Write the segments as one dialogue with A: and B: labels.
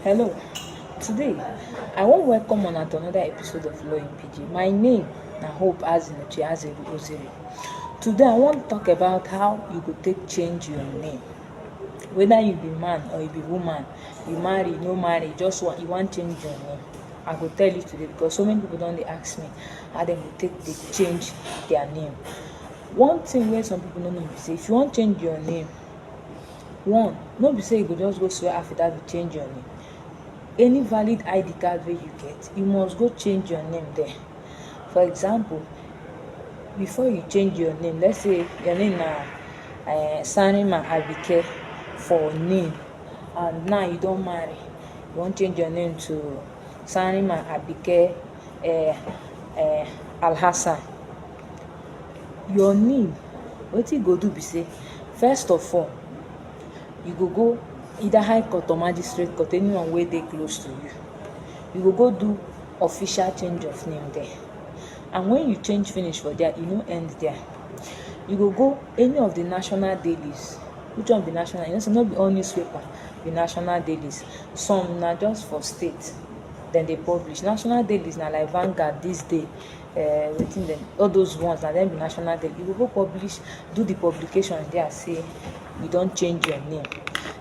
A: Hello, today I wan welcome una to another episode of Law in PG. My name na Hope Azinuche Azeru Ozeri. Today I wan talk about how you go take change your name. Whether you be man or you be woman, you marry, no marry, just want, you wan change your name. I go tell you today because so many people don dey ask me how dem go take dey change their name. One thing wey some people no know be say if you wan change your name, One, no be say you go just go swear affidavit change your name. Any valid ID card wey you get, you must go change your name there. For example, before you change your name, let's say your name na uh, Sanima Abike for name, and now you don marry, you wan change your name to Sanima Abike uh, uh, Alhassan. your knee wetin you go do be say first of all you go go either high court or magistrate court anyone wey dey close to you you go go do official change of name there and when you change finish for there e no end there you go go any of the national dailies which one be national you know say no be all newspaper be national dailies some na just for state dem dey publish national dailies na like Vanguard this day uh, wetin dem all those ones na dem be national dem you go go publish do the publication there say you don change your name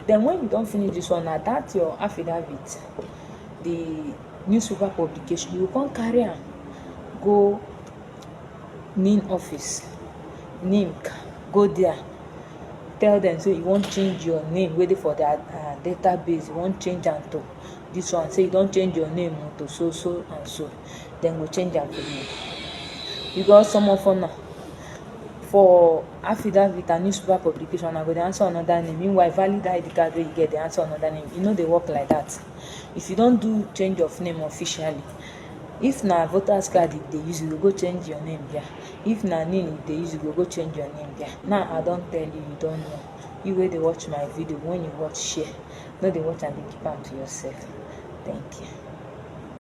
A: then when you don finish this one na that your affidavit the newspaper publication you go come carry am go nin office nimc go there tell them say you wan change your name wey dey for their uh, database you wan change am to this one say you don change your name to so so and so dem go change am for me because some of una for affidavit and newspaper publication una go dey answer another name meanwhile valid id card wey you get dey answer another name e no dey work like that if you don do change of name officially if na voters card you dey use you go go change your name there if na NIN you dey use you go go change your name there now i don tell you you don know you wey dey watch my video when you watch share no dey watch am dey keep am to yourself thank you